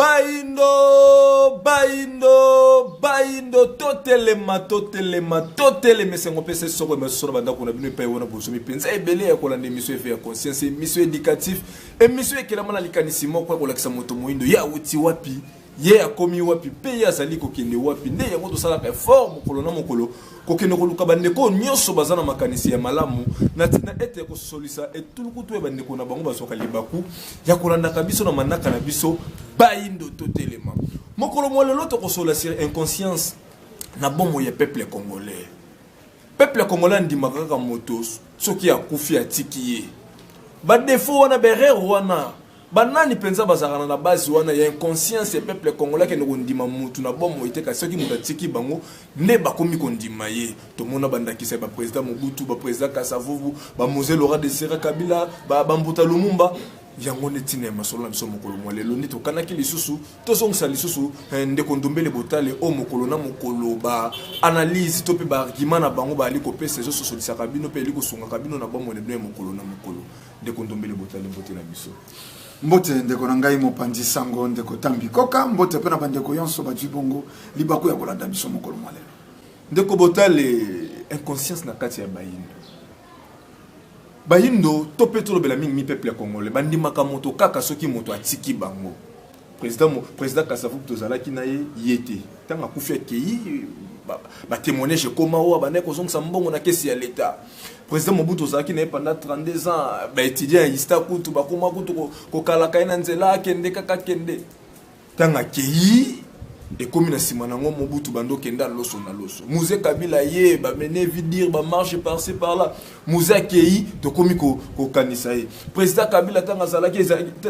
Baindo, baindo, baindo, totelema, totelema, totelema esengo mpe sesi soko emeso na bandako na bino epai wana bosomi mpenza ebele ya kolanda emission efe ya conscience emission éducatif emission ekelama na likanisi moko ya kolakisa moto moindo ye awuti wapi ye akomi wapi mpe ye azali kokende wapi nde yango tosalaka effort mokolo na mokolo Kokende koluka bandeko oyo nyonso baza na makanisi ya malamu na ntina ete kosolisa etulukutu ya bandeko na bango bazwaka libaku ya kolandaka biso na manaka na biso baindo totelema mokolo mwa lelo tokosola sur inconscience na bomoi ya peuple congolais peuple congolais andimaka kaka moto soki akufi atiki ye badefo wana baerreur wana banani mpenza bazalaka na base wana ya inconscience ya peuple congolais akende kondima mutu na bomoi te kasi soki moto atiki bango nde bakomi kondima ye tomona bandakisa ya baprésident mobutu baprésident kasavubu bamose lora de sera kabila bambuta lumumba yango nde ntina ya masolo na biso mokolo mwa lelo nde tokanaki lisusu tozongisa lisusu eh, ndeko ndombele botale oyo mokolo na mokolo ba analyse to mpe baargument na bango baali kopesa ezososolisaka bino mpe eli kosungaka bino na bomoi na bino ya mokolo na mokolo ndeko ndombele botali mbote na biso mbote ndeko na ngai mopanzi sango ndeko tambi koka mbote mpe na bandeko yonso bazwi bongo libaku ya kolanda biso mokolo mwa lelo ndeko botale inconscience na kati ya bayindo bayindo to mpe tolobela mingi mi peuple ya congolais bandimaka moto kaka soki moto atiki bango Président, président Kasavubu tozalaki na ye ye te. Ntango akufi akei batémoignage ekoma oyo abandaki kozongisa mbongo na kesi ya leta président mobutu ozalaki na ye pendant 32 ans baétudiant ya ista kutu bakoma kutu kokalaka ye na nzela akende kaka akende ntango akei ekomi na nsima na yango mobutu bando okenda loso na loso muse kabila ye bamene vidire bamarche parci par là moze akei tokomi kokanisa ye président kabila ntango azalaki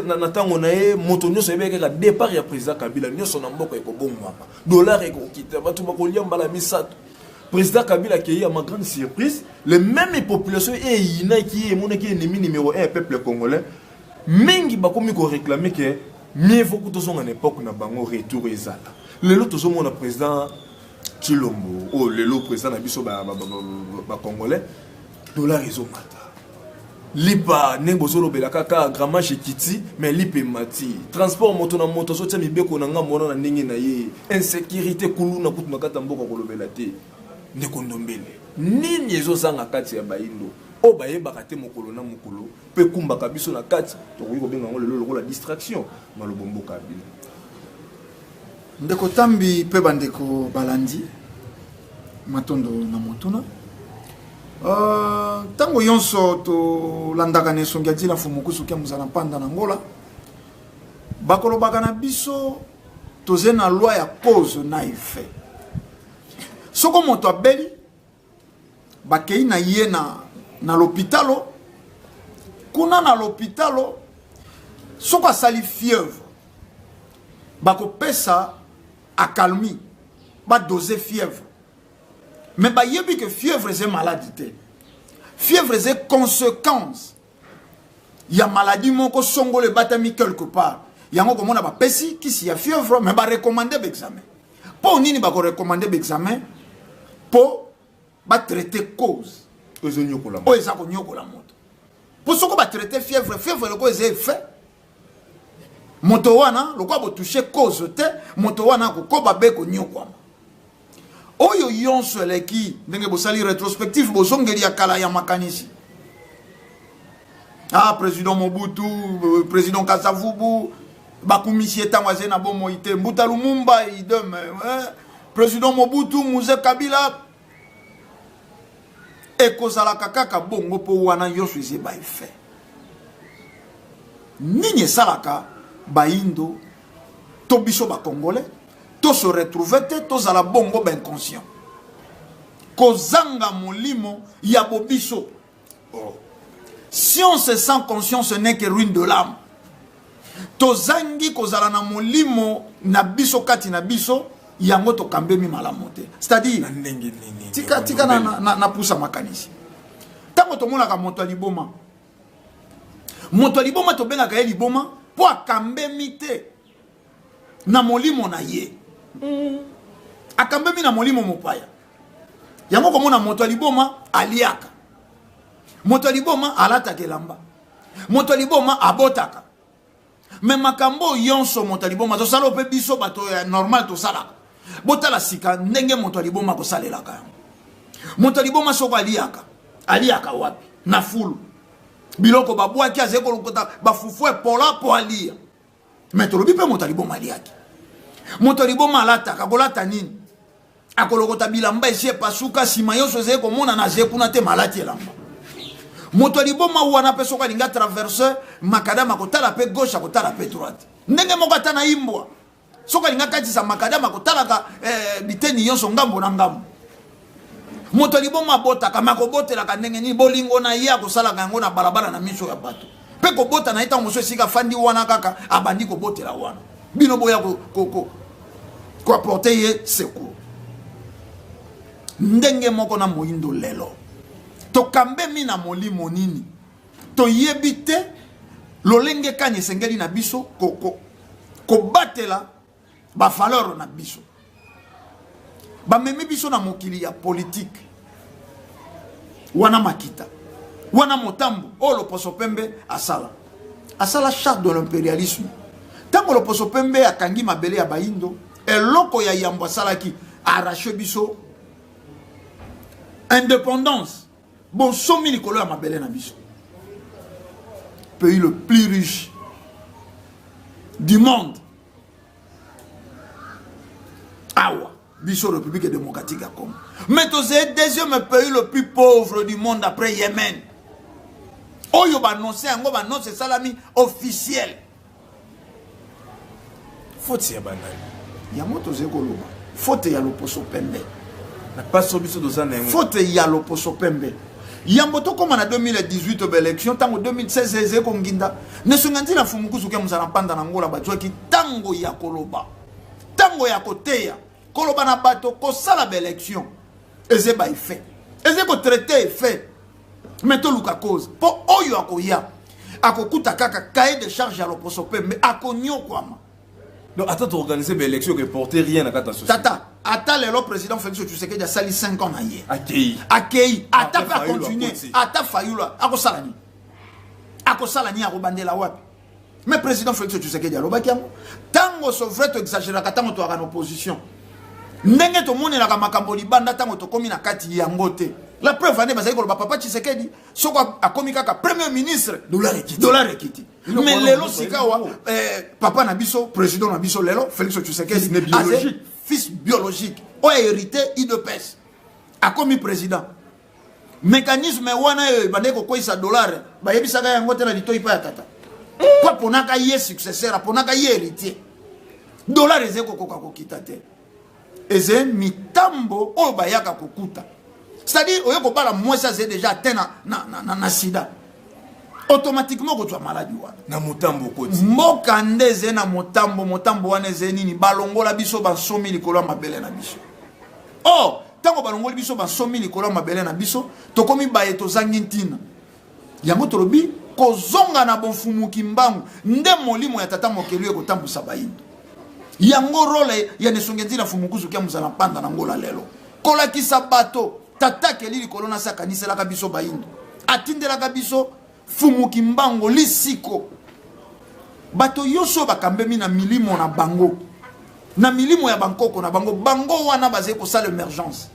na ntango na ye moto nyonso ayebaki kaka départ ya président kabila nyonso na mboka ekobongwama dollar ekokita bato bakolia mbala misato président kabila akei ya ma grande surprise le même population eyinaki ye emonaki ennemi numéro 1 ya peuple congolais mingi bakomi koréclame ke mieux vaut ko tozonga na époque na bango retour ezala lelo tozomona président Tshilombo oyo oh, lelo président na biso ba ba, ba, ba, ba congolais dollar ezomata lipa ndenge bozolobela kaka gramage ekiti mais lipa emati transport moto na moto azotya mibeko na ngambo wana na ndenge na ye insécurité kuluna kutu na kati ya mboka kolobela te ndeko ndombele nini ezozanga kati ya bayindo oyo bayebaka te mokolo na mokolo mpe ekumbaka biso na kati tokoki kobenga yango lelo lokola distraction malobo mboka ya bino Ndeko Tambi pe bandeko balandi matondo na motuna ntango euh, yonso tolandaka na esongi ya dila fumukusu ke mozala mpanda na ngola bakolobaka na biso toze na loi ya cause na effet soko moto abeli bakei na ye na, na lopitalo kuna na lopitalo soki asali fièvre bakopesa akalmi badose fièvre me bayebi ke fièvre eza maladi te fièvre eza conséquence ya maladie moko songolo ebatami quelque part yango komona bapesi kisi ya fièvre mais barecommande baexamen mpo nini bakorecommande baexamen mpo batraite cause oyo eza konyokola moto mpo soko batraite fièvre fièvre eloko eza effet moto wana lokola botouche cause te moto wana akokoba be konyokwama oyo yonso eleki ndenge bosali retrospective bozongeli ya kala ya makanisi ah président mobutu euh, président kasavubu bakumisi ye ntango azali na bomoi te mbuta lumumba idem eh, président mobutu muze kabila ekozalaka kaka bongo mpo wana nyonso eza ebai fe nini esalaka baindo to biso bakongole to se retrouve te tozala bongo bainconscient kozanga molimo ya bobiso Oh. Science sans conscience n'est que ruine de l'âme. Tozangi kozala na molimo na biso kati na biso yango tokambemi malamu te. C'est-à-dire tika tika na na, na pusa makanisi. Tango tomonaka moto ya liboma. Moto ya liboma tobengaka ye liboma mpo akambemi te. na molimo na ye mm. akambami na molimo mopaya yango komona moto ya liboma aliaka moto ya liboma alataka elamba moto ya liboma abotaka me makambo oyo yonso moto ya liboma azosala oyo mpe biso bato ya normal tosalaka botala sika ndenge moto ya liboma akosalelaka yango moto ya liboma soko aliaka aliaka wapi na fulu biloko babwaki azali kolokota bafufu epola mpo alia me tolobi mpe moto ya liboma aliaki moto ya liboma alataka akolata nini akolokota bilamba esi epasuka nsima nyonso ezali komonana aze kuna te malati elamba moto ya liboma wana mpe soki alingi atraverse makadama akotala mpe gauche akotala mpe droite ndenge moko ata na imbwa soki alingi akatisa makadama akotalaka eh, biteni nyonso ngambo na ngambo moto ya liboma abotaka me akobotelaka ndenge nini bolingo na ye akosalaka yango na balabala na miso ya bato mpe kobota na ye ntango mosusu esika afandi wana kaka abandi kobotela wana bino boya koaporte ye secour ndenge moko na moindo lelo tokambemi na molimo nini toyebi te lolenge kani esengeli na biso kobatela ko, ko bavaleur na biso bamemi biso na mokili ya politike wana makita wana motambo oyo loposo pembe asala asala charte de l'imperialisme ntango loposo pembe akangi mabele ya bayindo eloko ya yambo asalaki arrache biso indépendance bonsomi likolo ya mabele na biso pays le plus riche du monde awa biso république démocratique ya congo mais tozali deuxième pays le plus pauvre du monde après yemen oyo banonse yango banonse esalami officiel faute ya banani yango tozali koloba faute ya loposo pembe na paso biso toza na yango faute ya loposo pembe yambo tokóma na 2018 obe élection ntango 2016 ezali konginda nesonga ntina fumukusuki ya mozala mpanda na ngola bazwaki ntango ya koloba ntango ya koteya koloba na bato kosala baélection eze baeffet eze kotraite effet me toluka cause mpo oyo akoya akokuta kaka cahier de charge ya loposo mpe me akonyokwama donc ata toorganize baélection eporte rien na kati ya société tata ata lelo président félix tshisekedi asali 5 ans na ye akei akei ata mpe akontinue ata fayulu akosala nini akosala nini akobandela wapi mais président félix tshisekedi alobaki yango ntango sovrai toexageraka ntango toyaka na opposition ndenge tomonelaka makambo libanda ntango tokómi na kati yango te la preuve ane bazali koloba papa tshisekedi soki akomi kaka premier ministre dollar ekiti mais lelo sikawa eh, papa na biso président na biso lelo félix tshisekedi fils biologique oyo hérité idps akomi président mekanisme wana oyo ebandaki kokweisa dolare bayebisaka yango te na litoi mpa ya tata mpo aponaka ye successeur aponaka ye héritier dolare ezali kokoka kokita te eze mitambo oyo bayaka kokuta c'est-à-dire oye kobala mwasi azali déjà atteint na, na, na, na, na sida automatiquement okozwa maladi wana na motambo okoti mboka nde ezali na motambo motambo wana ezali nini balongola biso bansomi likolo ya mabele na biso or oh, ntango balongoli biso bansomi likolo ya mabele na biso tokomi baye tozangi ntina yango tolobi kozonga na bofumuki mbangu nde molimo ya tata mokelu ekotambwisa bayindo yango role ya nesongenzila mfumukuzu kia mozala mpanda na ngola lelo kolakisa bato tata keli likolo na se akaniselaka biso bayindo atindelaka biso Fumu Kimbango lisiko. Bato yoso bakambemi na milimo na bango. Na milimo ya bankoko na bango. Bango wana bazali kosala emergence.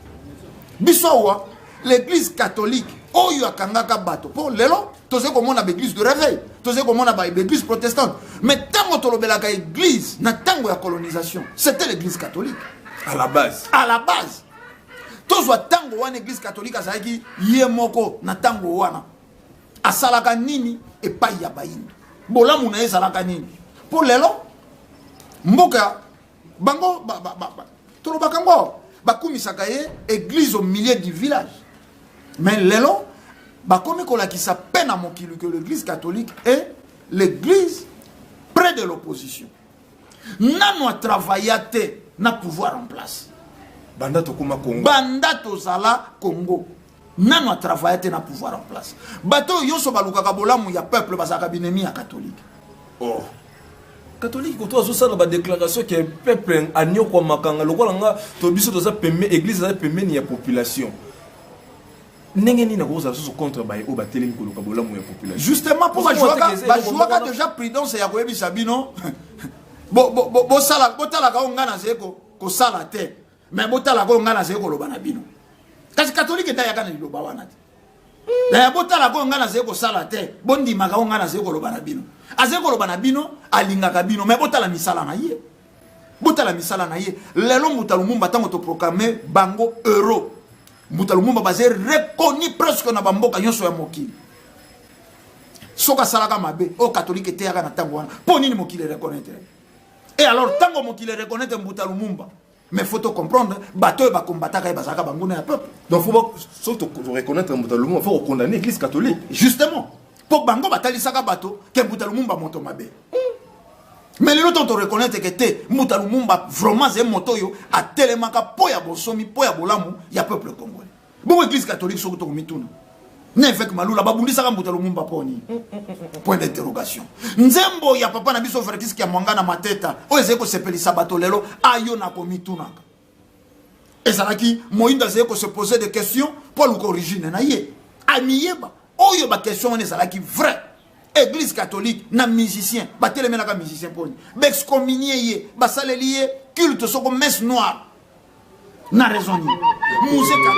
Biso awa l'église catholique oyo akangaka bato mpo lelo tozali komona baeglise de réveil tozali komona baeglise protestante mais ntango tolobelaka église na ntango ya colonisation c'était l'église catholique à la base à la base tozwa ntango wana église catholique azalaki ye moko na ntango wana asalaka nini epai ya bayindo bolamu na ye ezalaka nini mpo lelo mboka bango ba, ba, ba, ba. tolobaka ngo bakumisaka ye église au milieu du village mais lelo bakomi kolakisa mpe na mokili que l'église catholique est l'église près de l'opposition nano atravailla te na pouvoir en place banda tokoma congo banda tozala congo nano a travaille te na pouvoir en place bato oyo nyonso balukaka bolamu ya peuple bazalaka binemi ya katholike oh. katolike koto azosala badéclaration ke peuple aniokwamaka nga lokola nga to biso toza pembe église aza pembeni ya population ndenge nini akozala susu contre baye oyo batelemi koluka bolamu ya population justement mpo bajuaka déjà prudence ya koyebisa bino botalaka oyo ngai nazali kosala te me botala koyo ngai nazali koloba na bino kasi katolike nde ayaka na liloba wana te na ya botala koyo ngai nazali kosala te bondimaka oyo ngai nazali koloba na bino azali koloba na bino alingaka bino me botala misala na ye botala misala na ye lelo mbuta lumumba ntango toproclame bango euro mbuta lumumba bazali reconnu presque na bamboka nyonso ya mokili soki asalaka mabe oyo katolike eteyaka na ntango wana mpo nini mokili ereconnaitre et alors tango mokili reconnaître mbuta lumumba mais faut comprendre bato oyo bakombataka ye bazalaka banguna ya peuple donc faut soki toreconnaitre mbuta lumumba faut kocondamne église catholique justement mpo bango batalisaka bato ke mbuta lumumba moto mabe mais lelo ntango toreconnaitre ke te mbuta lumumba vraiment ze moto oyo atelemaka mpo ya bonsomi mpo ya bolamu ya peuple congolais bongo eglise catholique soki tokomituna na eveke malula babundisaka mbuta lumumba poni point d'interrogation nzembo ya papa na biso vertiske ya mwanga na mateta oyo ezali kosepelisa bato lelo ayo na komitunaka ezalaki moindo azali kose pose de question mpo aluka origine na ye amiyeba oyo baquestion wana ezalaki vrai église catholique na musicien batelemelaka musicien mponi baexcominie ye basaleli ye culte soko messe noire na raison nini museka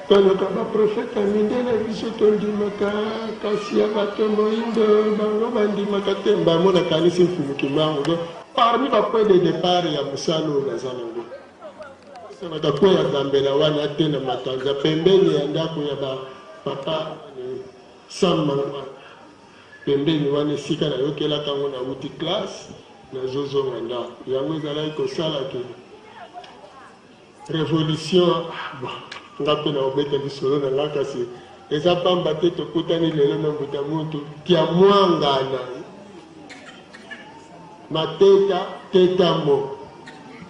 toluka baprofeta mindele biso tondimaka kasi ya bato moindo bango bandimaka te mbango nakanisi mfumu kimbangu do parmi bapoi de départ ya mosala oyo naza nango esanaka po ya gambela wana te na makanza pembeni ya ndako ya bapapa sam mangwana Pembeni wana esika nayokelaka yango nawuti classe nazozonga ndako yango ezalaki kosala ke revolution bon nga mpe nakobeta lisolo na nga kasi eza pamba te tokutani lelo na mbuta muntu kiamwangana mateta tetamo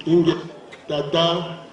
inge tata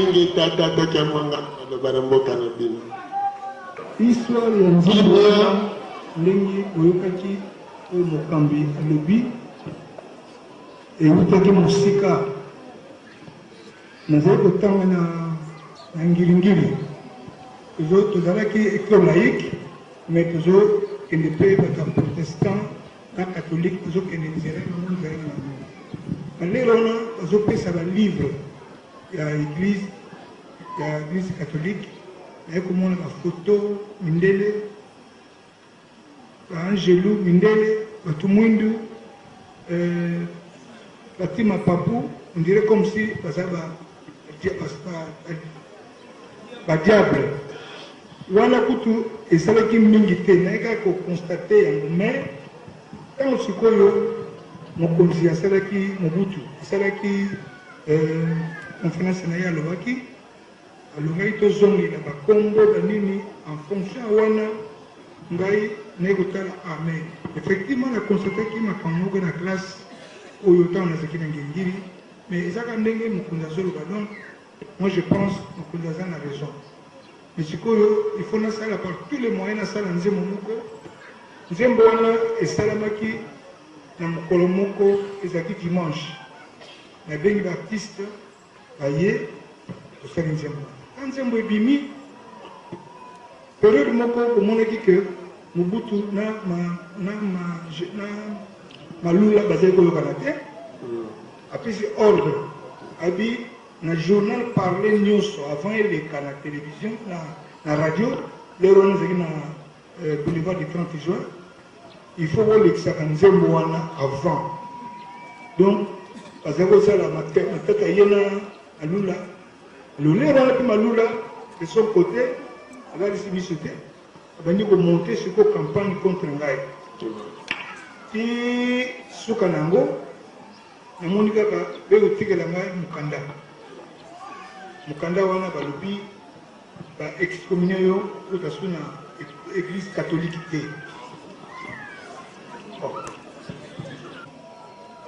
Ingeta tata kiamwanga maloba na mboka na bino. Histoire ya nzembo wana ndenge oyokaki oyo mokambi alobi ewutaki mosika nazali kotanga na na ngiringiri tozalaki ecole laïque mais tozokende mpe bato ya protestant na catholique tozo kende terrain na moni terrain na bango balere wana bazopesa balivre ya eglise ya eglise catholique naye komona bafoto mindele baangelu mindele bato mwindu euh, batima papu ondire comme si baza Ba diable wana kutu esalaki mingi te naye kaka ko constate yango mais tango sikoyo mokonzi asalaki mobutu asalaki euh, conference na ye alobaki alongaki tozongela bakombo banini en fonction wana ngai naye kotala amen ah, effectivement na constataki makambo moko na classe oyo ntango nazalaki na ngengiri mais ezaka ndenge mokonzi azoloba donc Moi je pense mokonzi aza na raison mais sikoyo il faut nasala par tous les moyens nasala nzembo moko nzembo wana esalamaki na mokolo moko ezalaki dimanche nabengi baartiste baye tosali nzembo na nzembo ebimi periode moko omonaki ke mobutu na malula bazali koyokana te Apesi ordre alobi na journal parle nioso avant eleka na television na na radio lero wana ezalaki na euh, boulevard du 30 juin il faut bolekisaka nzembo wana avant donc bazali kosala matata ye na alula lolero wana mpe malula de son côté alalisi biso te Abandi ko monter sikoyo campagne contre ngai ti suka na yango namoni kaka be kotikela ngai mokanda mokanda wana balobi ba excommunier yo ota su na église catholique te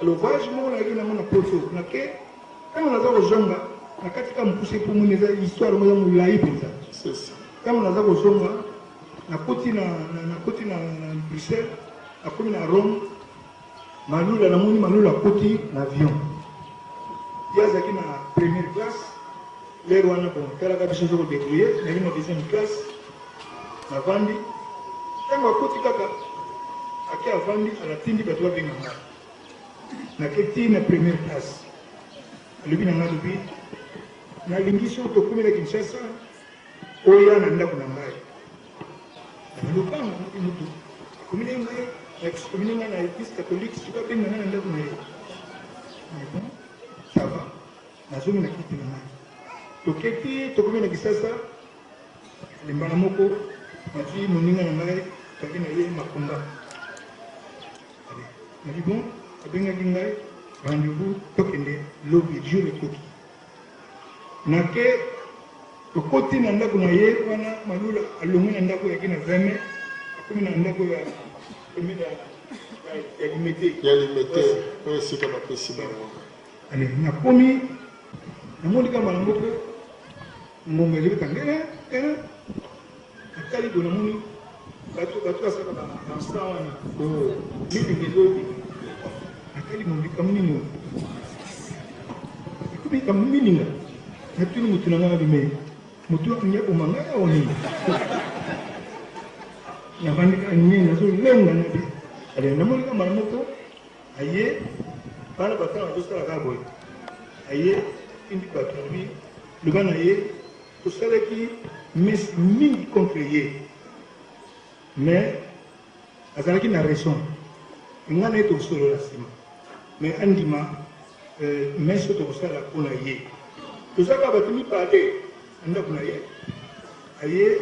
lobage moko nayaki nango na poto nake ntango naza kozonga na kati ka mokuse mpo moni eza histoire moko ya molai mpenza Tango naza kozonga, nakoti na, na, nakoti na, na Bruxelles, nakomi na Rome, Malula, namoni Malula akoti na avion. Ye azalaki na première classe, lere wana bon, talaka biso ozo kodebrouille, nayaki na deuxième classe, navandi. Tango akoti kaka, ake avandi, alatindi bato babenga nga. Nake ti na première classe. Alobi na nga, alobi, nalingi soki tokomi na Kinshasa, Oya na ndako na ngai. Na lopango moto moto akomi na ngai, akomi na ngai na eglise catholique, soki abenga ngai na ndako na ye. Mais bon, ça va. Nazongi na kiti na ngai. Toketi, tokomi na Kisasa, limbala moko, nati moninga na ngai, toki na ye makonga. Nadi bon, abengaki ngai, rendez-vous, tokende lobi, jour ekoki. Na ke tokoti na ndako na ye wana Malula alongwe na ndako yaki na 20 mai akomi na ndako ya commune ya ya Limete. Ya Limete oyo esika bapesi bango. Allez, nakomi namoni kama na moko ngonga ezobeta ngele Natali boye namoni bato bato basaka ba dansa wana bilenge lobi natali mo likambo nini oyo ekomi likambo mininga natuni motu na ngai bime motu akangi aboma ngai awa nini nabandi kaka nye nazolenga na bi ale namoni ka mbala moko aye bana batanga azosala kaka boye aye indi bato alobi loba na ye Tosalaki mes mingi contre ye mais azalaki na raison nga na ye tokosolola nsima mais andima euh, mes oyo tokosala mpo na ye tozalaka bato mibale na ndako na ye aye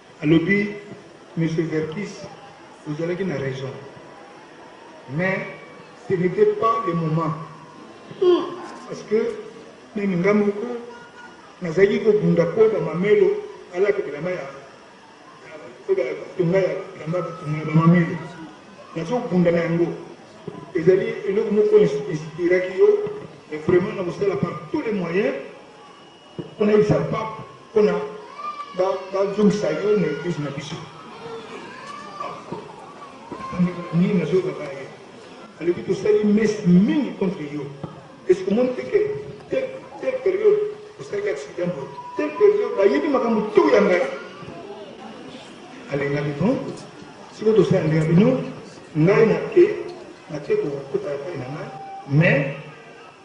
Alobi monsieur Verkys ozalaki na raison mais ce n'etait pas le moment parce que meme nga moko nazalaki kobunda mpo bamamelo alaka bilamba ya tonga ya bilamba batonga ya bamamelo nazobunda na yango ezali eloko moko inspiraki yo mais vraiment nakosala par tous les moyens Pona yebisa pape pona bazongisa yo na eglise na biso nini nazoyebaka ye alobi tosali messe mingi contre yo esi omoni teke te periode osalaki accident boye te periode bayebi makambo to ya ngai alengaki bon siko tosala ndenge bino ngai nake nake kokota epai na ngai mais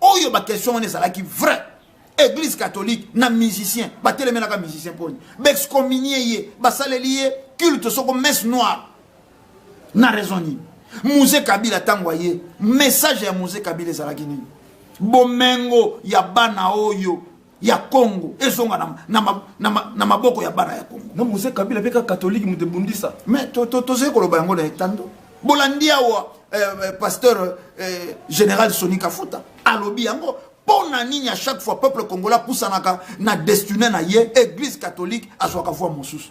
oyo ba question wana ezalaki vrai église catholique na musicien batelemelaka musicien poni baexcominie ye basaleli ye culte soko messe noire na raison nini muse kabila ntango aye message ya muse kabila ezalaki nini bomengo ya bana oyo ya Congo ezonga na, na, na, na, na maboko ya bana ya Congo. Na Mose Kabila pe ka katoliki moto ebundisa. Mais to to tozali koloba yango na etando. Bolandi awa eh, eh, pasteur eh, général Sony Kafuta alobi yango mpo na nini à chaque fois peuple congolais apusanaka na destiné na ye église catholique azwaka voix mosusu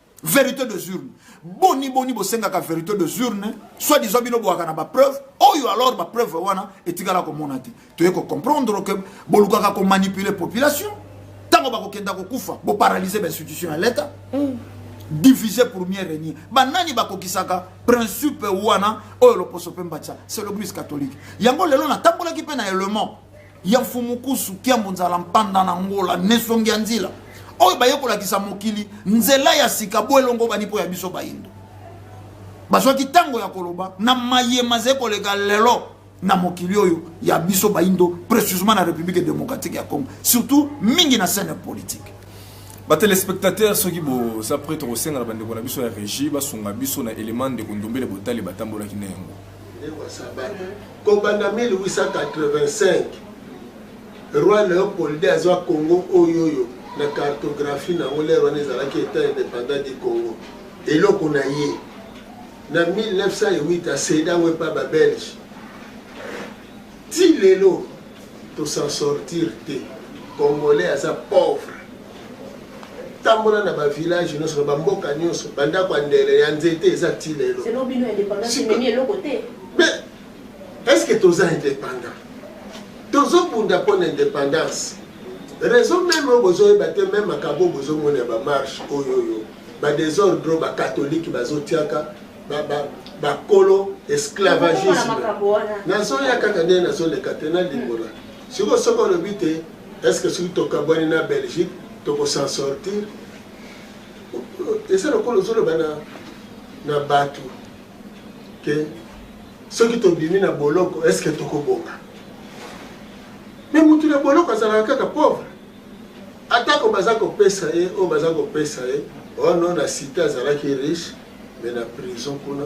verité de urne boni boni bosengaka verité de urne soit disant bino boyaka na bapreuve oyo alors bapreuve wana etikala komona te toye kocomprendre ke bolukaka komanipule population ntango bakokenda kokufa boparalyse bainstitution ya leta mm. divise pour mieux régner banani bakokisaka principe wana oyo loposo mpe mbatisa c'est le plus catholique yango lelo natambolaki mpe na element ya mfumukusu kiambo nzala mpanda na ngola nesongi ya nzila oyo baye kolakisa mokili nzela ya sika bo elongobani mpo ya biso bayindo bazwaki ntango ya koloba na maye mazali koleka lelo na mokili oyo ya biso bayindo précisement na république démocratique ya congo surtout mingi na scène politique batelespectateur soki boza prêtre kosenga na bandeko na biso ya régie basunga biso na élément ndeko ndombele botali batambolaki na yango kobanda 1885 roi leopold azwa congo oyoyo na cartographie na yango lere wana ezalaki etat indépendant du congo eloko na ye na 1908 aseda yango epa babelge ti lelo tosan sortir te congolais aza pauvre tambola na ba village nyonso na ba mboka nyonso ba ndako ya ndele ya nzete eza ti lelo mais est ce que toza indépendant tozobunda mpo na indépendance raison meme oyo bozoyeba te meme makambo oyo bozomona ya bamarche oyo oyo badésordre oyo bakatholike bazotiaka bakolo esclavagisme nazoya kaka nde nazoleka te nalimbola sikoyo soki olobi te Est ce que soki tokabwani na Belgique toko s'en sortir? Eza lokola ozoloba na, na bato ke soki tobimi na boloko est ce que tokobonga? Me motu na boloko azalaka kaka pauvre, atako baza kopesa ye oyo baza kopesa ye ono oh na site azalaki riche me na prison kuna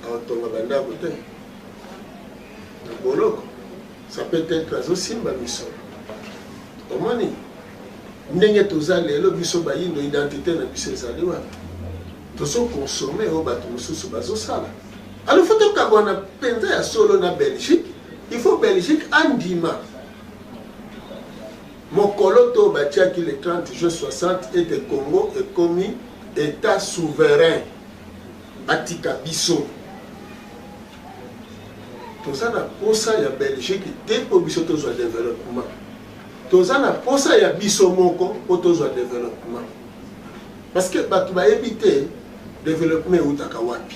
aotonga bandako te na boloko Ça peut etre azo simba biso. Omoni ndenge toza lelo biso bayindo identité na biso ezali wapi? Tozo consommer oyo bato mosusu bazosala. Alors faut tokabwana mpenza ya solo na Belgique. Il faut Belgique andima mokolo to batiaki le 30 juin 60 ete Congo ekomi état souverain batika biso Toza na posa ya Belgique te mpo biso tozwa developpement. Toza na posa ya biso moko mpo tozwa developpement. Parce que bato bayebi te developpement eutaka wapi.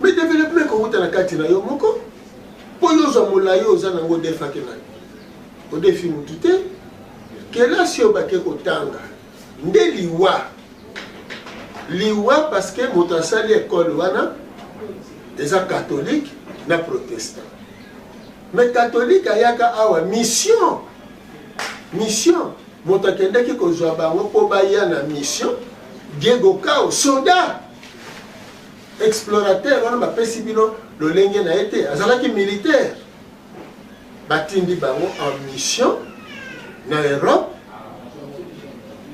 Mais developpement ekouta na kati na yo moko mpo yo ozwa molai oza nango odefaki nani odefi motu te kelasi oyo bake kotanga nde liwa liwa parce que moto asali ekole wana eza catholique na protestant mais catholique ayaka awa mission mission moto akendaki kozwa bango mpo baya na mission diego kao soda explorateur wana bapesi bino lolenge na ye te azalaki militaire batindi bango en mission na Europe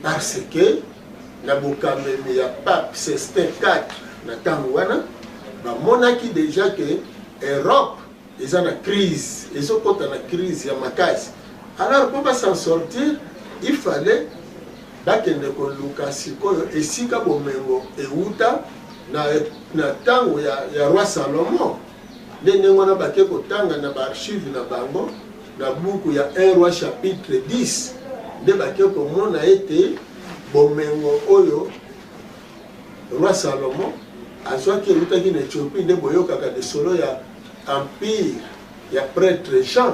parce que na bokambemi ya pape Sextin IV na ntango wana bamonaki deja ke Europe eza na crise ezokota na crise ya makasi alors mpo basan sortir il fallait bakende koluka sikoyo esika bomengo ewuta na ntango ya, ya roi salomon Nde ndenge wana bake kotanga na baarchive na bango na buku ya 1 roi chapitre 10 nde bake komona ete bomengo oyo roi salomon azwaki eutaki na ethiopie nde boyokaka lisolo ya empire ya prêtre jean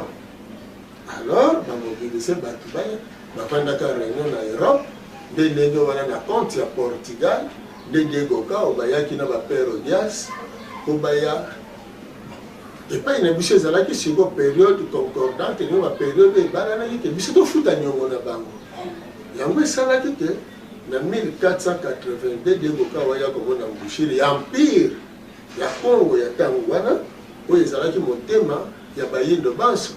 alors ba mobilise bato baya bafandaka réunion na europe nde ndenge wana na compte ya portugal nde diego kao bayaki na bapere odias mpo baya epai na biso ezalaki siko periode concordante nio baperiode ebalanaki te biso tofuta niongo na bango yango esalaki te na 1482 diego kao aya komona mbushiri ya empire ya Congo ya tango wana oyo ezalaki motema ya bayindo banso,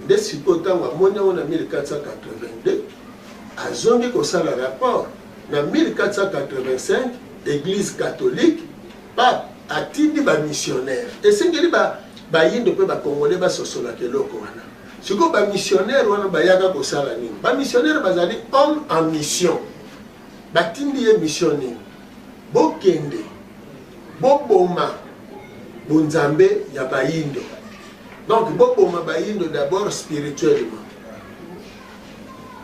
nde sikoyo tango amoni yango na 1482 azongi kosala rapport na 1485 eglise catholique pape atindi ba missionnaire esengeli ba bayindo mpe bakongole basosolaka eloko wana sikoyo bamissionnaire wana bayaka kosala nini bamissionnaire bazali homme en mission Batindi ye mission nini? Bokende boboma bonzambe ya bayindo. Donc boboma bayindo d'abord spirituellement,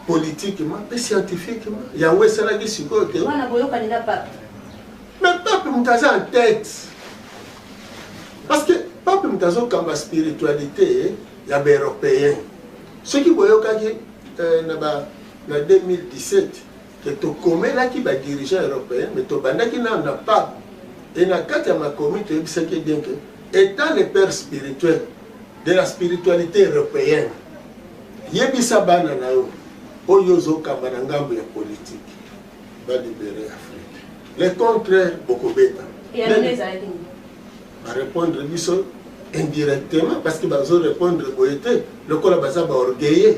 politiquement mpe scientifiquement. Yango esalaki sikoyo te wana boyokani na pape. Mais pape moto aza en tête parce que pape moto azokamba spiritualité ya baeuropéen soki boyokaki eh, na ba na 2017 ke tokomelaki ba dirigeants européens mais tobandaki nano na pape e na kati ya makomi toyebisaki bien ke étant le père spirituel de la spiritualité européenne yebisa bana na yo oyo ozokamba na ngambo ya politike balibere afrique le contraire bokobeta Ba repondre biso indirectement parce que bazo repondre boye te lokola baza ba orgueilleux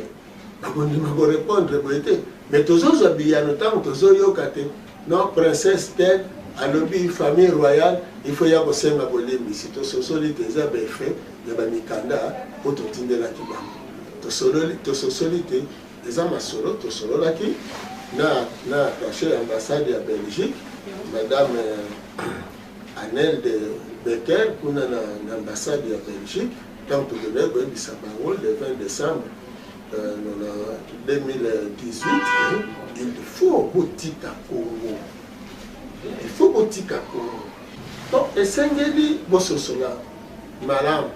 bakondima ko repondre boye te mais tozozwa biyano ntango tozoyoka te non princesse tel alobi famille royale il faut ya kosenga bolimbisi tososoli te eza baeffet ya bamikanda mpo totindelaki bango tososoli te eza masolo tosololaki na na attaché ya ambassade ya belgique madame euh, Anel de Becker kuna na, na ambassade ya Belgique ntango tokendaki koyebisa bango le 20 décembre euh, na 2018 il faut botika Congo il faut botika Congo donc esengeli bososola malamu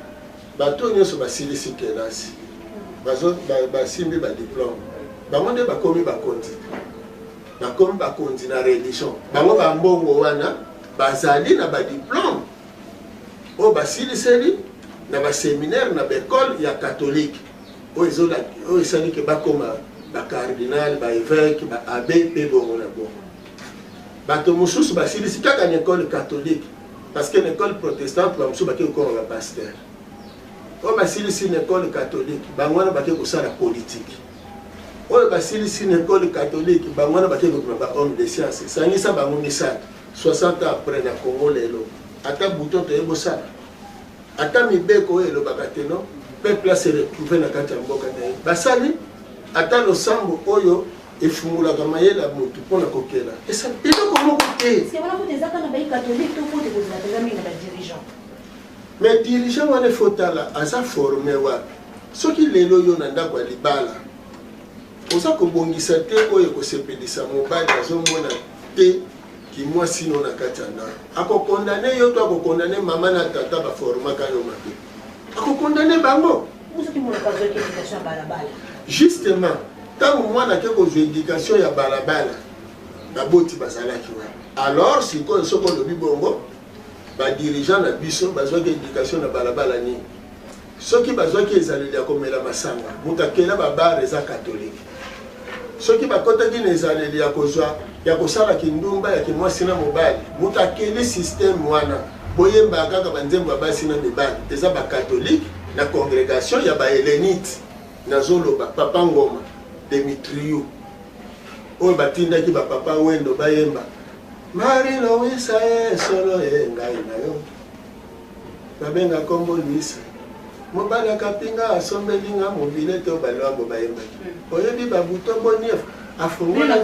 bato oyo nyonso basilisi kelasi basimbi badiplome bango nde bakomi bakonzi Bakomi bakonzi na religion. Bango ba mbongo wana bazali na ba diplome oyo basiliseli na ba seminaire na ba ekole ya katolike oyo esali ke bakoma ba cardinal ba eveke ba abe mpe bongo na bongo bato mosusu basilisi kaka na ekole katolike parce que na ekole protestante bamosusu bake kokoma ba pasteur oyo basilisi na ekole katolike bango wana bake kosala politike oyo basilisi na ekole katolike bango wana bakei kokima ba homme de science sangisa bango misato 60 ans après na congo lelo ata bouton toye bosala ata mibeko oyo elobaka te no peuple ase retrouve na kati ya mboka na ye basali ata losambo oyo efungolaka mayele ya motu mpo na kokela esali eloko moko te mais dirigeant wana efotala aza forme wapi Soki lelo yo na ndako ya libala oza kobongisa te oyo ekosepelisa mobali azomona te kimwasi no na kati ya ndako akokondane yo to akokondane mama na tata baformaka yo mabe akokondane bango justement ntango mwana ake kozwa edikatio ya balabala baboti bazalaki wana alors sikoyo soki olobi bongo badirigant na biso bazwaki edikatio na balabala nini Soki bazwaki ezaleli ya komela masanga, moto akela ba bar eza catholique. Soki bakotaki na ezaleli ya kozwa ya kosala kindumba ya kimwasi na mobali, moto akeli système wana. Boyembaka kaka banzembo ya basi na mibali, eza ba catholique na congregation ya ba helenite. Nazoloba papa Ngoma, Demetriou, oyo batindaki ba papa Wendo bayemba Marie Louisa e solo e ngai na yo. Babenga kombo Luis. Mobali ya kapinga asombeli nga mobile to baluambo bayembaki. Oyebi ba bouton bonief afongola.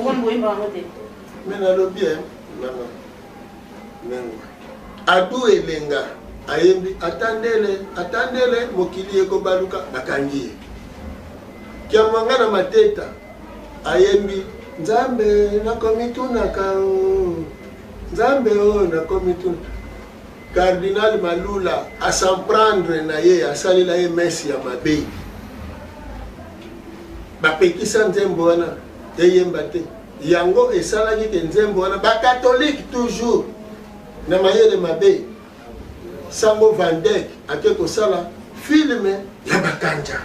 Mais nalobi eh mama. Mengo. Adu elenga ayembi atandele atandele mokili ekobaluka bakangi ye. Kiamwanga na mateta ayembi nzambe nakomitunaka o oh. nzambe o oh, nakomituna Cardinal Malula a s'en prendre na ye asalela ye messe ya mabe. Bapekisa nzembo wana eyemba te. Yango esalaki ke nzembo wana ba catholique toujours na mayele mabe. Sango Van Dijk ake kosala filme ya bakanja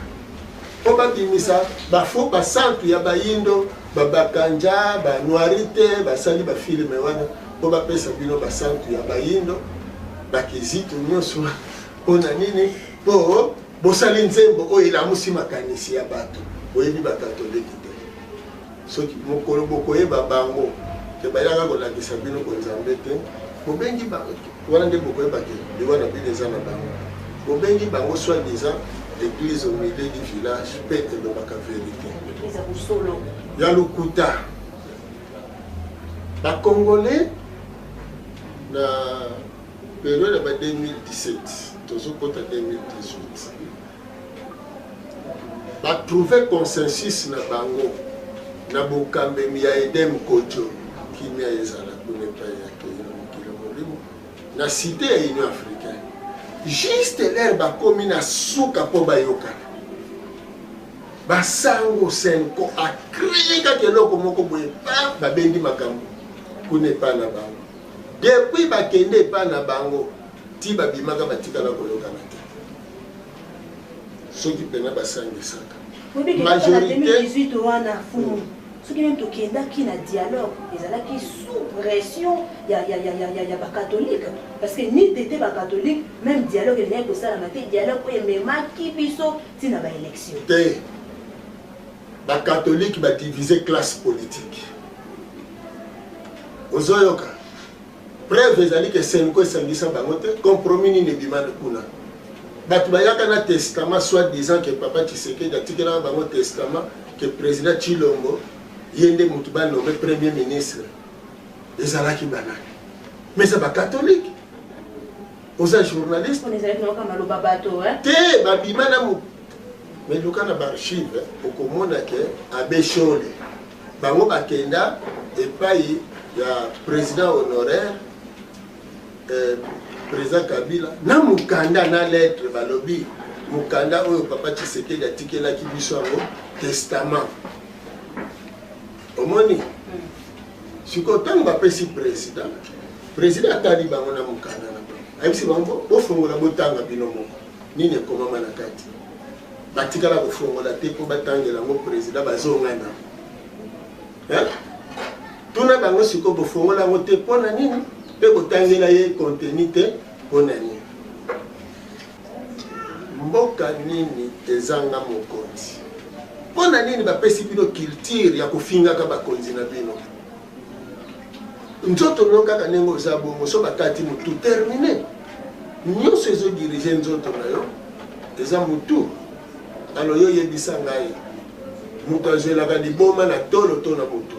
mpo babimisa bafo basantu ya bayindo babakanja banuarite basali bafilme wana po bapesa bino basantu ya bayindo bakizito nyonso mpo na nini mpo bosali nzembo oyo elamusi makanisi ya bato boyebi bakatoliki te soki mokolo bokoyeba bango te bayaka kolakisa bino konzambe te bobengi bango wana nde bokoyeba te liwa na bino eza na bango bobengi bango soit disant l'église au milieu du village mpe elobaka verité ya lokuta Ba congolais na periode ya ba 2017 tozokota 2018 ba trouver consensus na bango na bokambemi ya edem kojo kimia ezala kuna epai ya kenya mokili molimo na site ya union africaine juste lere bakomi na suka mpo bayokana Basango Cenco a cree kaka eloko moko boye pa babendi makambo kuna epai na bango. Depuis bakende epai na bango ti babimaka batikala koyokana te. Soki pena basangisaka. Oyebi que kaka na 2018 wana fumu hmm. soki nani tokendaki na dialogue ezalaki sous pression ya, ya, ya, ya, ya, ya bakatholike parce que ni tete bakatholike même dialogue elingaki kosalama te dialogue oyo ememaki biso ntina ba election te bakatolike badivise classe politique ozoyoka preuve ezali ke senko esangisa bango te compromis nini ebimani kuna bato bayaka na testament soit disant ke papa tshisekedi atikelaka bango testament ke président tshilombo ye nde motu banome premier ministre ezalaki banani mais eza bakatolike oza journaliste On ezalaki nayoka maloba bato hein? te babima na mo mais luka na baarchive okomona ke abe shole bango bakenda epai ya président honoraire eh, président kabila na mokanda na lettre balobi mokanda oyo papa tshisekedi atikelaki biso yango testament omoni sikoyo ntango bapesi président président atali bango na mokanda na bango ayebisi bango bofongola botanga bino moko nini ekomama na kati batikala kofongola te mpo batangela yango président bazongana tuna bango sikoyo bofongola yango te mpo na nini mpe kotangela ye konteni te mpo na nini Mboka nini ezanga mokonzi? Pona nini bapesi bino culture ya kofingaka bakonzi na bino? Nzoto no kaka ndenge oza bongo, so bakati mutu termine. Nyonso ezo dirige nzoto na yo eza mutu. Alors yo yebisa ngai, moto azwelaka liboma na tolo to na motu?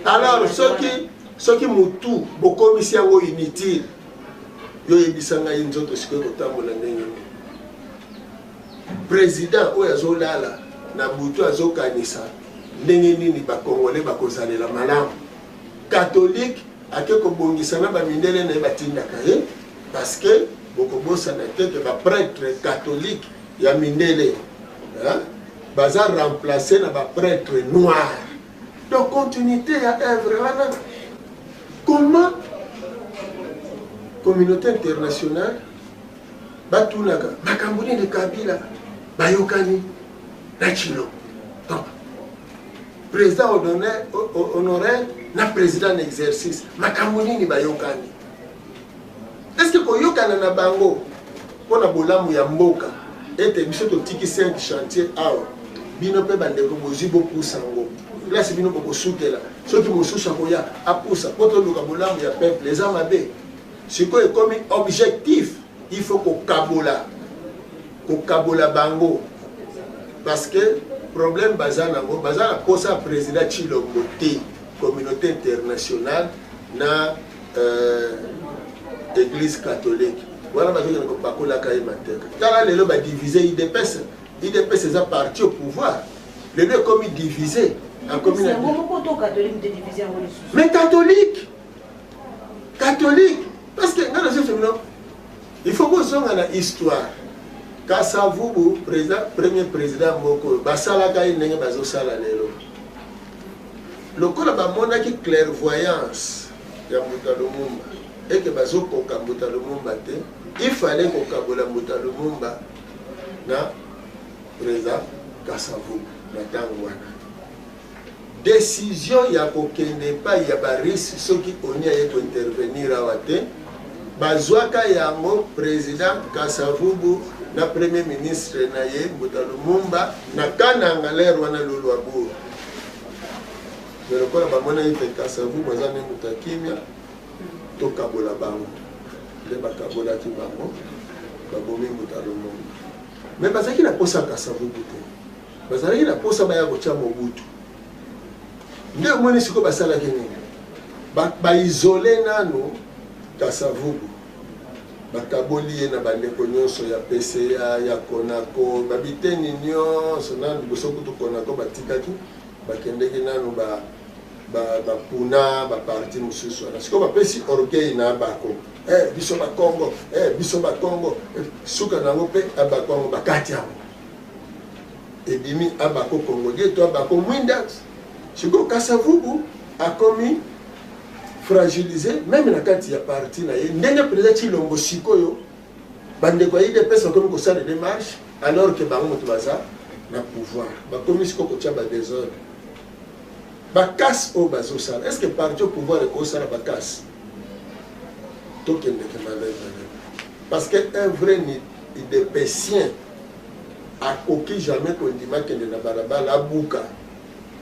Alors soki soki mutu bokomisi yango inutile yo yebisa ngai nzoto sikoyo kotambola ndenge nini président oyo azolala na butu azokanisa ndenge nini bakongole bakozalela malamu katolike ake kobongisa na bamindele na ye batindaka ye parce que bokobosana te ke bapretre katolike ya mindele baza remplace na bapretre noire Donc continuité ya œuvre wana comment communauté internationale batunaka makambo nini kabila bayokani na chilo donc président honoraire na président na exercice makambo nini bayokani estce koyokana na bango mpo na bolamu ya mboka ete biso totiki cinq chantier awa bino mpe bandeko bozwi bopusa yango place bino bokosukela soki mosusu akoya apusa mpo toluka bolamu ya peuple eza mabe sikoyo ekomi objectif il faut kokabola kokabola bango parce que problème baza nango baza na mposa ya président chilombo te communauté internationale na euh, eglise catholique wana bazokende kopakolaka ye mateka tala lelo badivise idps idps eza parti au pouvoir lelo ekomi divise mais catholique catholique parce que nga nazosomino il faut bozonga na histoire kasavubu président premier président moko basalaka ye ndenge bazosala lelo Lokola bamonaki clairvoyance ya Mbuta Lumumba et que bazokoka Mbuta Lumumba te, il fallait kokabola Mbuta Lumumba na Preza Kasavubu na ntango wana. Decision ya kokende epai ya Barusse soki ONU aye kointervenir awa te, bazwaka yango President Kasavubu na Premier ministre na ye Mbuta Lumumba na Kananga, l'heure wana Luluabourg. me lokola bamonaki te kasavubu aza nde moto ya kimia tokabola bango nde bakabolaki bango babomi moto ya lomongo me bazalaki na mposa ya kasavubu te bazalaki na mposa baya kotya mobutu nde omoni sikoyo basalaki nini baizole nano kasavubu Bakaboli ye na bandeko nyonso ya PCA, ya Conaco, ba biteni nyonso, nanu liboso kutu Conaco batikaki, bakendeki nanu ba ba puna ba parti mosusu wana sikoyo bapesi orgueil na abako eh, biso bakongo eh, biso bakongo eh, suka na yango mpe abako yango bakati yango ebimi abako kongo die to abako mwinda Sikoyo Kasavubu akomi fragilise meme na kati ya parti na ye ndenge mpenza Tshilombo sikoyo bandeko ya idps bakomi kosala demarche alors ke bango moto baza na pouvoir bakomi sikoyo kotya badesordre bakasi oyo bazosala est ce que parti au pouvoir ekosala bakasi tokendeke malai malai parce que un vrai idepesien Akoki jamais kondima akende na balabala abuka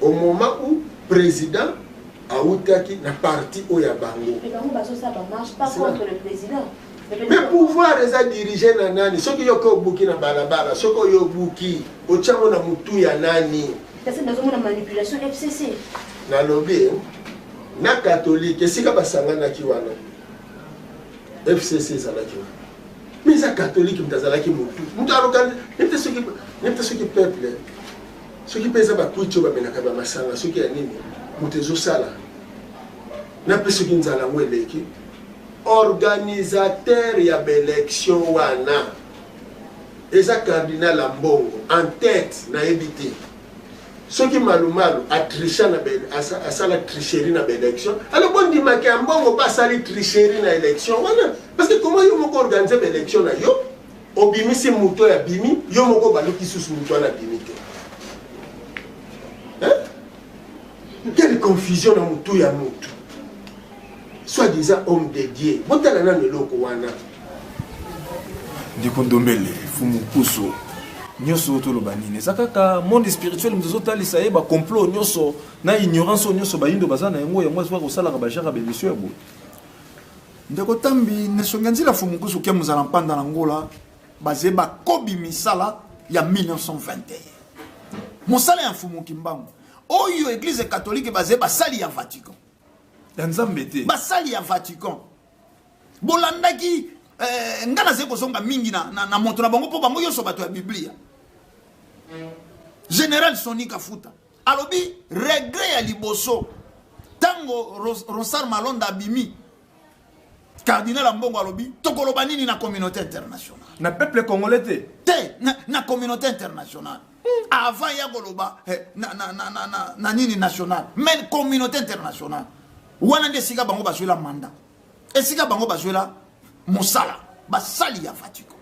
au moment où president awutaki na parti oyo ya bango. Mais bango bazosala ba marche pas contre le president. me pouvoir eza dirige na nani soki yo ke obuki na balabala soki oyo obuki otyango na motu ya nani nalobi na katolike esika basanganaki wana fcc ezalaki wana mais eza catholique moto azalaki motu moto aloka nete soki nete soki peuple soki mpe eza bakuiti oyo bamelaka bamasanga soki ya nini moto ezosala na mpe soki nzala yango eleki organisateur ya baélection wana eza cardinal ya mbongo en tête nayebi te soki malumalu a tricha na ben asa, asala tricherie na baélection alors bondimaka ya mbongo mpe asali tricherie na élection wana parce que comment yo moko organise baélection na yo obimisi moto oyo abimi yo moko baluki susu moto wana abimi te quelle confusion na motu ya motu soit disant homme de dieu botala nano eloko wana ndeko ndombele fumu puso nyonso oyo toloba nini eza kaka monde spirituel moto ezotalisa ye bacomplot nyonso na ignorance oyo nyonso bayindo baza na yango yango azoka kosalaka bajara bemission ya boye ndeko tambi nesongi ya nzila fumu puso kia mozala mpanda na ngola baze bakobi misala ya 1921 mosala ya mfumu kimbangu oyo eglize katolike baze basali ya vatican ya nzambe te basali ya vatican bolandaki eh, ngai nazali kozonga mingi na, na, na moto na bango mpo bango nyonso bato ya biblia général soni kafuta alobi regret ya liboso ntango rosar malonda abimi cardinal ambongo alobi tokoloba nini na communauté internationale na peuple congolais te te na, na communauté internationale mm. avant ya koloba eh, na, na, na, na, na, na nini nationale mais communauté internationale wana nde esika bango bazwela manda esika bango bazwela mosala basali ya vatico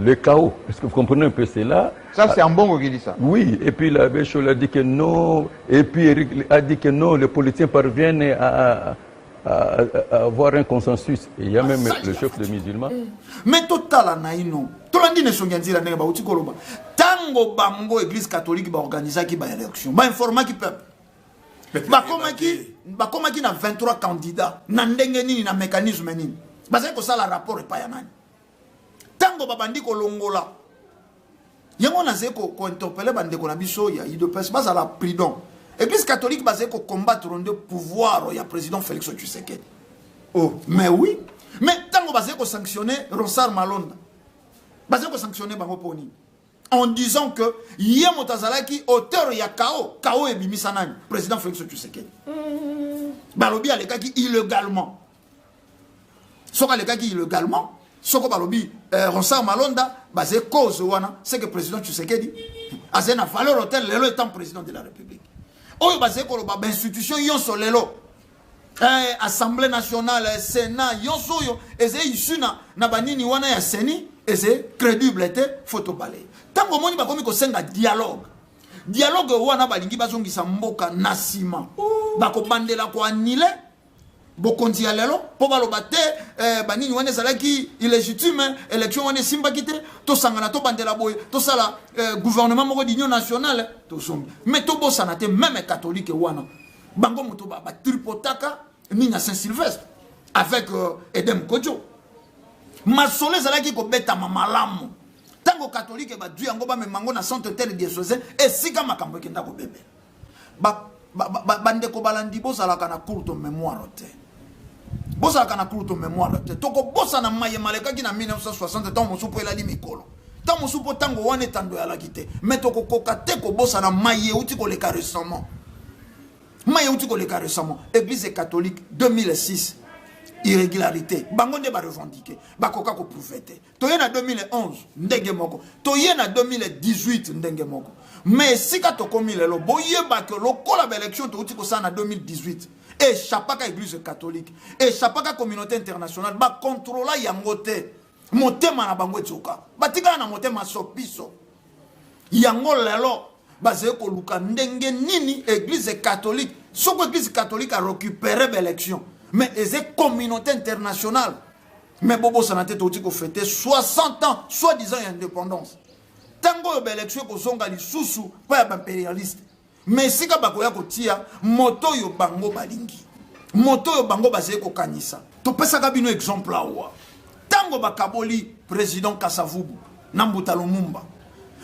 Le chaos, est-ce que vous comprenez un peu cela Ça, c'est Ambongo qui dit ça. Oui, et puis la Béchol a dit que non, et puis Eric a dit que non, les politiciens parviennent à, à, à, à avoir un consensus. Et il y a même le chef de musulman. Eh. Mais total, on a une nom. tolandi na esongi ya nzela ndenge bauti koloba ntango bango église catholique baorganisaki baélection bainformaki peuple bakomaki bakomaki na 23 candidat na ndenge nini na mécanisme nini bazali kosala rapport epai ya nani ntango babandi kolongola yango nazali kointerpele bandeko na biso ya udps bazala prudent eglise catholique bazali kocombattre nde pouvoir ya président félix tshisekedi oh. mais oui mais ntango bazali kosanctionne rosar malonda bazali kosanctionne bango mpo nini en disant que ye moto azalaki auteur ya kao kao ebimisa nani président félix tshisekedi mm. balobi alekaki illegalement soki alekaki illegalement soko balobi eh, ronsar malonda baze cause wana c'est que président tshisekedi azali na valeur hotel lelo étant président de la république oyo bazali koloba bainstitution yonso lelo eh, assemblée nationale eh, sénat yonso oyo ezali issu na, na banini wana ya seni ezali crédible te fo tobale ntango omoni bakomi kosenga dialogue dialogue wana balingi bazongisa mboka na nsima bakobandela koanile bokonzi ya lelo mpo baloba te eh, banini wana ezalaki illegitime élection wana esimbaki te tosangana tobandela boye tosala eh, gouvernement moko d'union nationale tozongi mais tobosana te meme catholique wana bango moto batripotaka nini ya saint sylvestre avec euh, edem kojo masolo ezalaki kobetama malamu ntango katolike badwi yango bamema yango na centre tel diocese esika makambo ekenda kobebela bandeko balandi bozalaka na courte mémoire te bozalaka na courte mémoire te tokobosana maye malekaki na 1960 ntango mosusu mpo elali mikolo ntango mosusu mpo ntango wana etando eyalaki te mai tokokoka te kobosana maye euti koleka récemment maye euti koleka récemment église catholique 2006 irrégularité bango nde barevendike bakoka koprouve te toye na 2011 ndenge moko toye na 2018 ndenge moko me esika tokomi lelo boyeba ke lokola baélection touti kosala na 2018 echapaka église catholique echapaka communauté internationale bakontrola yango te motema na bango etioka batikala na motema sopiso yango lelo bazali koluka ndenge nini église catholique soko église catholique arecupere baélection mais eza communauté internationale mais bobosana te touti kofete 60 ans soit disant ya indépendance ntango oyo baelektio ekozonga lisusu mpo ya baimperialiste me esika bakoya kotia moto oyo bango balingi moto oyo bango bazali kokanisa topesaka bino exemple awa ntango bakaboli président kasavubu na mbuta lumumba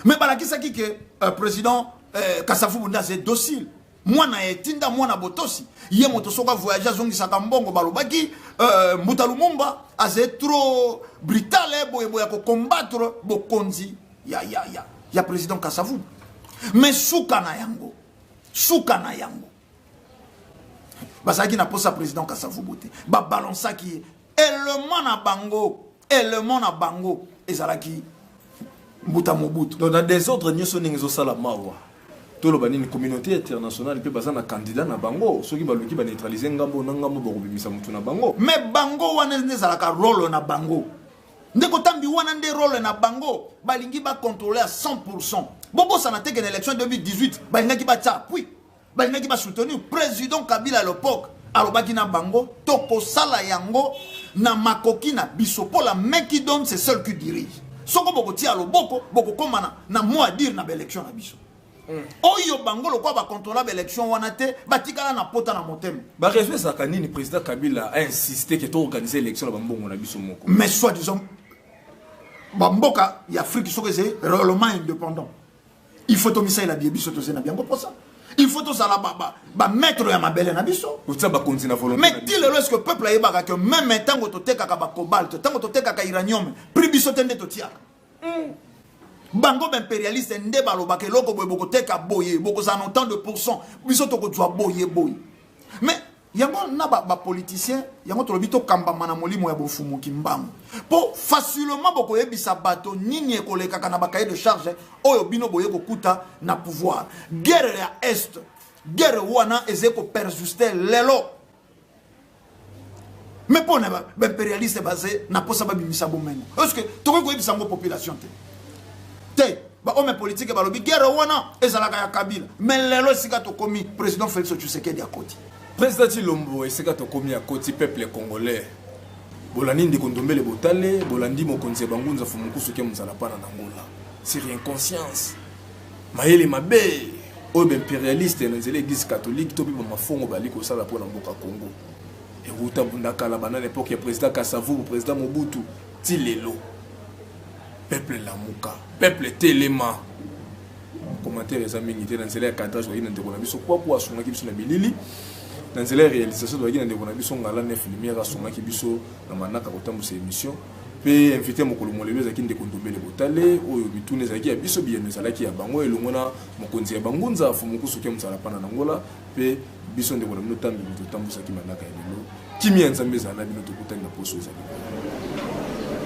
me balakisaki ke uh, président uh, kasavubu nde azali docile mwana ya etinda mwana botosi ye moto soki avoyage azongisaka mbongo balobaki euh, mbuta lumumba azali trop brutale eh, boyeboye ya kokombattre bokonzi ya, ya, ya, ya président kasavu mais suka na yango suka na yango bazalaki na mposa président kasavubu te babalonsaki ye element na bango element na bango ezalaki mbuta mobutu donc na desordre nyonso ndenge ezosala mawa toloba nini communauté internationale mpe baza na candidat na bango soki baluki baneutralize ngambo na ngambo bakobimisa motu na bango me bango wana nde ezalaka role na bango nde kotambi wana nde role na bango balingi bacontrole ya 100 pourcent bobosana teke na élection 2018 balingaki batya pui balingaki ba soutenir président kabila à l'époque alobaki na bango tokosala yango na makoki na biso mpo la main qui donne c'est seul qui dirige soko bokotia loboko bokokoma na, na mot à dire na baélection na biso mm. oyo bango lokola bacontrola baélection wana te batikala na pota na motema bareseau ezalaka nini président kabila ainsiste ke toorganize élection na bambongo na biso moko mais soit disant bamboka ya afrique soki eze réellement indépendant il faut tomisalela biye biso toze na biango mposa il faut tozala bamaître ba, ba ya mabele na biso totia bakonzi na volonté mais ti lelo eske peuple ayebaka ke meme ntango totekaka bacobalt ntango totekaka iranium prix biso te nde totiaka mm. bango baimperialiste nde balobaka eloko boye bokoteka boye bokozala na autant de pourcent biso tokozwa boye boye mais yango na ba, ba politiciens yango tolobi tokambama na molimo ya bofumu kimbangu mpo facilement bokoyebisa bato nini ekolekaka na bakaye de charge oyo bino boye kokuta na pouvoir guerre ya est guerre wana ezali koperjuste lelo me mpo na baimperialiste baze na mposa babimisa bomengo est ce que tokoki koyebisa yango population te te bahomme politike balobi guerre wana ezalaka ya kabila me lelo esika tokomi président félix tshisekedi akoti président cilombo esika tokomi akoti peuple congolais bolandi ndeko ndombele botale bolandi mokonzi ya bangunza fumukusu ke mozala pana na ngola sur inconscience mayele mabe oyo baimperialiste na nzela eglise catholique to mpe bamafongo bali kosala mpo na mboka congo ewuta bunda kala banda na epoke ya président kasavubu président mobutu ti lelo peuple lamuka peuple telema commentaire eza mingi te na nzela ya cadrage tozalaki na ndeko na biso kwaku asungaki biso na bilili na nzela ya réalisation tozalaki na ndeko na biso ngala nef lumière asungaki biso na manaka kotambwisa émission mpe invité mokolo molelo ezalaki ndeko ndombele botale oyo bituna ezalaki ya biso biyano ezalaki ya bango elongo na mokonzi ya bangunza fumukusuke mosala mpana na ngola mpe biso ndeko na bino ntango bino totambwisaki manaka ya lelo kimia ya nzambe ezala na bino tokutani na poso ezali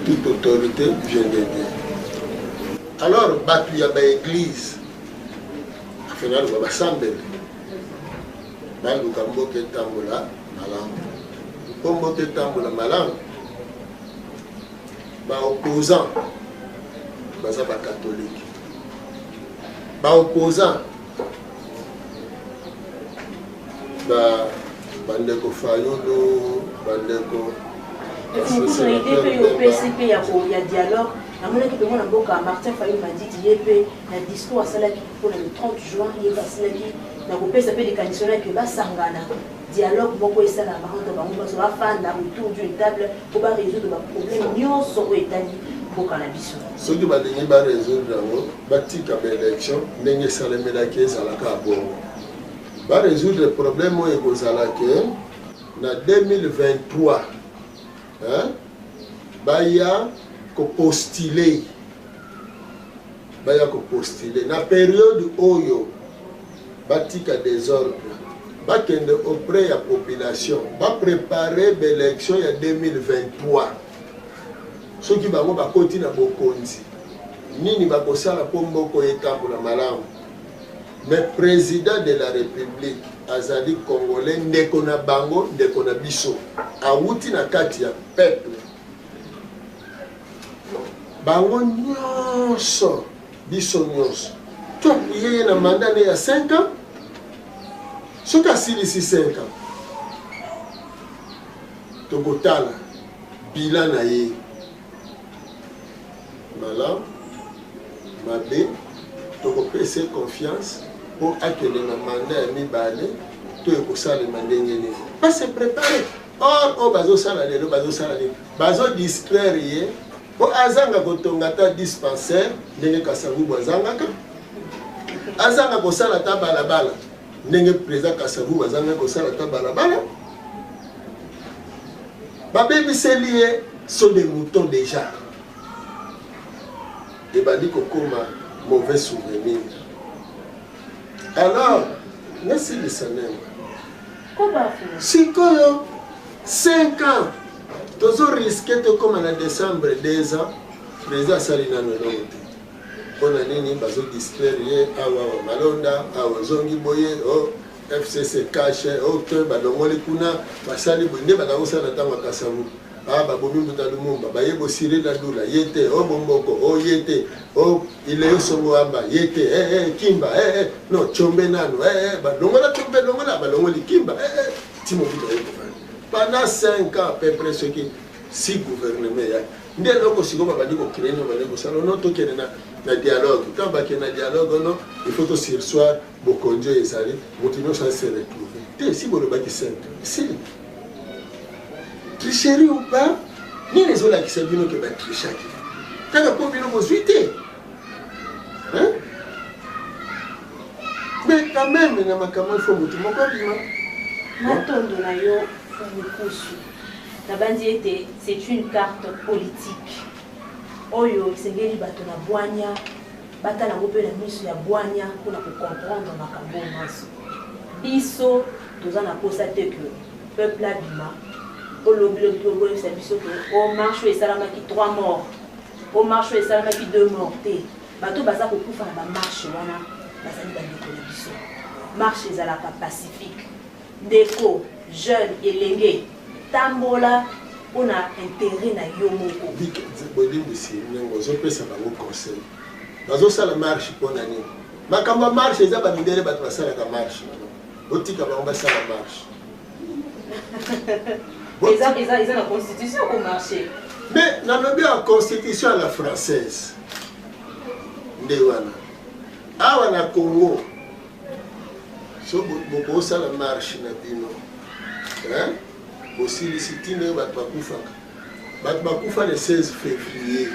toute autorité vient de dieu alors bato ya baeglize finaloba basambeli baluka mboka etambola malamu mpo mboka etambola malamu baopposant baza bakatolike baopposant ba bandeko fayulu bandeko efukuso ide mpe yo opesi mpe ya dialogue namonaki mpengo na mboka martin fayulu madidi ye mpe na discours asalaki mpona le 30 juin ye mpe asilaki na kopesa mpe likanisi wana eke basangana dialogue moko esalaka entre bango nyonso bafanda autour d'une table mpo baresoudre baproblème nyonso oyo etali mboka na biso soki balingi baresoudre yango Batika ba election ndenge esalemelaki ezala kaka bongo. Ba resoudre problème oyo ekozala ke na 2023 hein, baya kopostile baya kopostile na periode oyo batika desordre bakende auprès ya population baprepare baélection ya 2023 Soki bango bakoti na bokonzi, nini bakosala mpo mboka etambola malamu? Mais president de la republique azali congolais, ndeko na bango, ndeko na biso, awuti na kati ya peuple. Bango nyonso, biso nyonso, toapuye ye na manda ne ya 5 ans, soki asilisi 5 ans Tokotala bilan na ye malamu mabe, tokopesa ye confiance mpo akende na manda ya mibale to ekosalema ndenge nini. Base prepare or oyo bazosala lelo bazosala nini? Bazodistraire ye mpo azanga kotonga ata dispensaire ndenge kasavubu azangaka azanga kosala ata balabala ndenge président kasavubu azangaki kosala ata balabala babebiseli ye so de mouton deja ebandi kokoma mauvais souvenir alors nasilisa nene sikoyo 5 ans tozo riske tokóma na décembre 2 ans président asali nano elongo te mpo na nini bazodistraire ye awa wa malonda awa ozongi boye o oh. FCC cache ok balongoli kuna basali boye nde bakakosala na ntango ya kasavu ah, babomi mbuta lumumba baye bosire na lula ye te o oh, bomboko o oh, ye te o oh, ileyo songo amba ye te hey, eh, eh, hey, kimba hey, eh, hey, no combe nano hey, hey, balongola combe longola balongoli kimba hey, hey, timobuta ye kofana pendant 5 ans peu près soki si gouvernement ya nde eloko sikoyo babandi kokrene babandi kosala no tokende na dialogue ntango bakende na dialogue ono il faut tosirsoir Bokonzi oyo ezali moto nyonso ase retrouve te, esi bolobaki sainte esili tricherie ou pas nini ezolakisa bino ke batrichaki kaka mpo bino bozwi te mais quand même na makambo ifo motu moko abima matondo na yo mokusu nabanzi ete c'est une carte politique oyo esengeli bato na bwanya Batala yango mpe na miso ya bwanya mpo na kocomprendre makambo oyo manso. Biso toza na mposa te ke peuple abima olobi lobi mpe okoyebisa biso ke o oh, marche oyo esalamaki 3 morts o oh, marche oyo esalamaki 2 morts te bato baza kokufa na bamarche wana bazali bandeko na biso marche ezalaka pacifique Ndeko, jeune, elenge, tambola mpo na interet na yo moko. Bolimbisi ndenge ozopesa bango conseil. Bazosala marche mpo na nini? Makambo ya marche eza bamindele bato basalaka marche. Botika bango basala marche. eza eza eza na constitution ko marché mais nalobi ya constitution ya la française nde wana awa na congo so bosala marche na bino bosilisi ntina oyo bato bakufaka bato bakufa le 16 février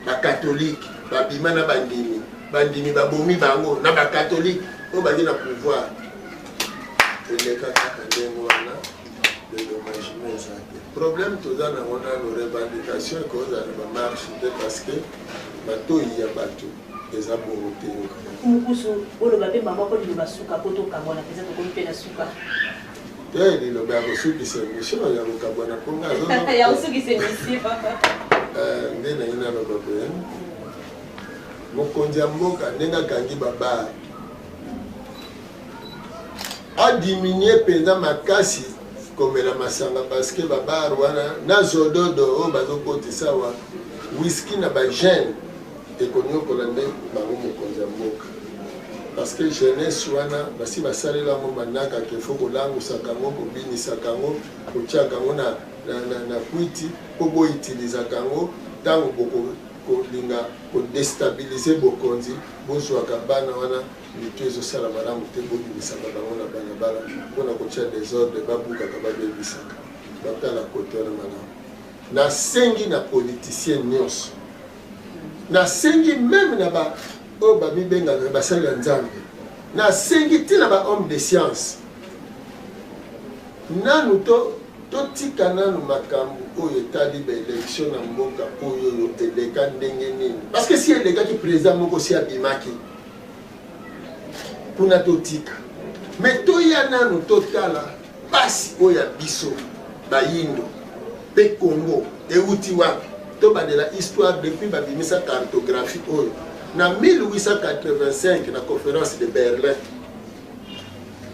bakatolike babima na bandimi bandimi babomi bango na bakatolike oyo bandi na pouvoir eleka kaka ndenge wana le domagement eza te problème toza nango nano revendication ekozala na bamarche te parce que matoi ya bato eza bongo te mukusu oloba mpe mama ko liloba suka mpo tokabwana mpenza tokomi mpe na suka te liloba ya kosukisa emission ya kokabwana mpo nga ya kosukisa emission eh, nde naye naloba boye mokonzi ya mboka ndenge akangi babare adiminue mpenza makasi komela masanga parce que babare wana na zododo oyo bazokotisa wa wiski na bagene Ekoniokola nde bango mokonzi ya mboka parce que jeunesse wana basi basalela yango manaka ke faut kolangusaka yango kobinisaka yango kotiaka yango na, na, na, na kwiti mpo boitilizaka yango ntango bokolinga kodestabilize bokonzi bozwaka bana wana mitu ezosala malamu te bobimisaka bango na balabala mpo na kotya desordre babukaka babebisaka batala kote wana malamu nasengi na politicien nyonso nasengi meme na ba oyo bamibengaka basali ya nzambe nasengi ntina ba homme de science nanu to totika nanu makambo oyo etali baelektio na mboka oyo oyo eleka ndenge nini parce que si elekaki président moko si abimaki kuna totika me toya nanu totala Pasi oyo ya biso bayindo pe Congo ewuti wapi? Tobandela histoire depuis babimisa cartographie oyo na 1885 na conference de Berlin.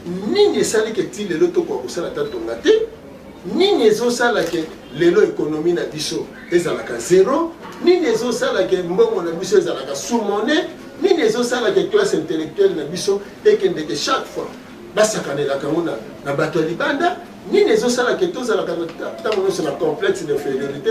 Nini esali ke ti lelo tokoka kosala ta tonga te? Nini ezosala ke lelo ekonomi na biso ezalaka zero? Nini ezosala ke mbongo na biso ezalaka sous-monnaie? nini ezosalaka classe intellectuelle na biso ekendeke chaque fois basakanelaka yango na bato ya libanda nini ezosalaka tozalaka ntango nyonso na complexe d'infériorité